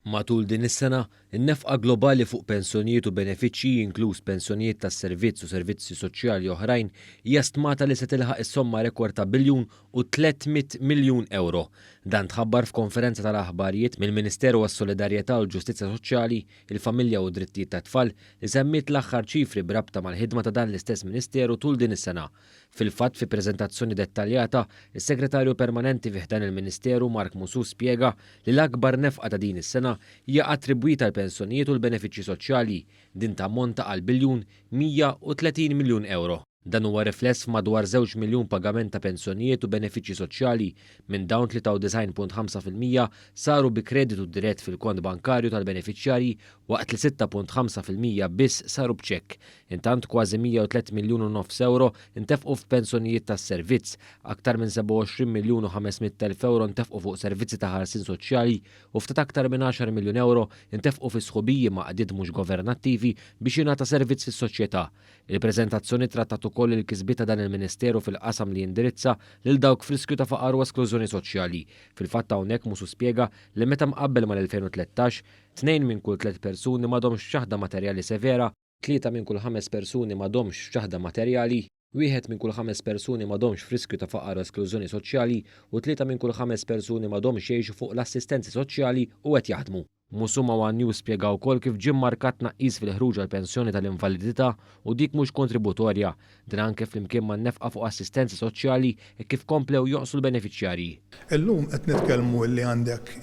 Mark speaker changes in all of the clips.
Speaker 1: Matul din is-sena, in-nefqa globali fuq pensjonijiet u benefiċċji, inkluż pensjonijiet tas-servizz u servizzi soċjali oħrajn, hija stmata li se tilħaq is-somma rekord ta' biljun u 300 miljun ewro. Dan tħabbar f'konferenza tal-aħbarijiet mill-Ministeru għas-Solidarjetà u l-Ġustizzja Soċjali, il-Familja u d-Drittijiet tat-Tfal, li semmiet l-aħħar ċifri b'rabta mal-ħidma ta' dan l-istess Ministeru tul din is-sena. Fil-fatt, fi preżentazzjoni dettaljata, is-Segretarju Permanenti fi ħdan il-Ministeru Mark Musù spjega li l-akbar nefqa ta' din is-sena hija attribwita għall-pensjonijiet u l-benefiċċji soċjali. Din tammonta għal biljun 130 miljun ewro. Dan huwa rifless f'madwar żewġ miljun pagament ta' pensjonijiet u benefiċċji soċjali, minn dawn 93.5 fil-mija saru bi kreditu dirett fil-kont bankarju tal-benefiċjarji waqt li 6.5 fil-mija biss saru b'ċekk, Intant kważi 103 miljun u nofs ewro ntefqu f'pensjonijiet tas-servizz, aktar minn 27 miljun u 500 elf ewro ntefqu fuq servizzi ta' ħarsien soċjali u ftit aktar minn 10 miljun ewro ntefqu fi sħubiji ma' għaqdiet mhux governattivi biex jingħata servizz lis-soċjetà. Il-preżentazzjoni trattat ukoll il-kisbiet ta' dan il-Ministeru fil-qasam li jindirizza lil dawk f'riskju ta' faqar u esklużjoni soċjali. Fil-fatt hawnhekk Musu spjega li meta mqabbel mal-2013, tnejn minn kull tliet persuni m'għadhomx b'ċaħda materjali severa, tlieta minn kull ħames persuni m'għadhomx f'ċaħda materjali, wieħed minn kull ħames persuni m'għadhomx f'riskju ta' faqar u esklużjoni soċjali u tlieta minn kull ħames persuni m'għadhomx jgħixu fuq l-assistenzi soċjali u qed jaħdmu. Musuma u Agnew spjegaw ukoll kif ġie mmarkat tnaqqis fil-ħruġ għall-pensjoni tal-invalidità u dik mhux kontributorja, Dan anke flimkien man-nefqa fuq assistenza soċjali hekk kif komplew jonqsu l-benefiċjarji. Illum qed
Speaker 2: nitkellmu illi għandek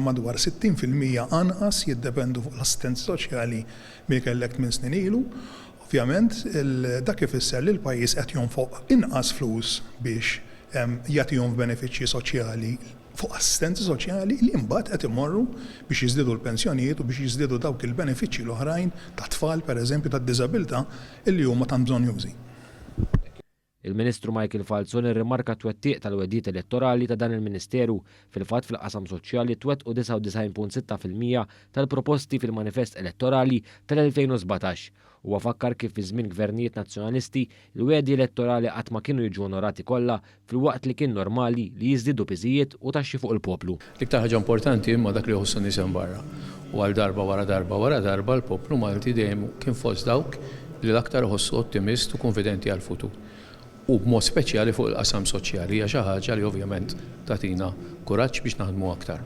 Speaker 2: madwar 60 fil-mija anqas jiddependu fuq l-assistenza soċjali milli kellek tmien snin ilu. Ovvjament dak ifisser li l-pajjiż qed jonfoq inqas flus biex jagħtihom f'benefiċċji soċjali fuq assistenza soċjali li mbagħad qed imorru biex jiżdiedu l-pensjonijiet u biex jiżdiedu dawk il-benefiċċji l-oħrajn tat-tfal pereżempju tad-diżabilità illi huma tant bżonnjużi.
Speaker 1: Il-Ministru Michael Falzon irrimarka t-twettiq tal-wegħdiet elettorali ta' dan il-Ministeru. Fil-fatt fil-qasam soċjali twettqu 99.6 fil-mija tal-proposti fil-manifest elettorali tal-2017. Huwa fakkar kif fi żmien Gvernijiet Nazzjonalisti, il-wegħdi elettorali qatt ma kienu jiġu onorati kollha filwaqt li kien normali li jiżdiedu piżijiet u taxxi fuq il-poplu. L-iktar ħaġa importanti
Speaker 3: imma dak li jħossu n-nies hemm barra. U għal darba wara darba wara darba l-poplu Malti dejjem kien fost dawk li l-aktar iħossu ottimist u kunfidenti għall-futur. U b'mod speċjali fuq il-qasam soċjali hija xi ħaġa li ovvjament tagħtina kuraġġ biex naħdmu aktar.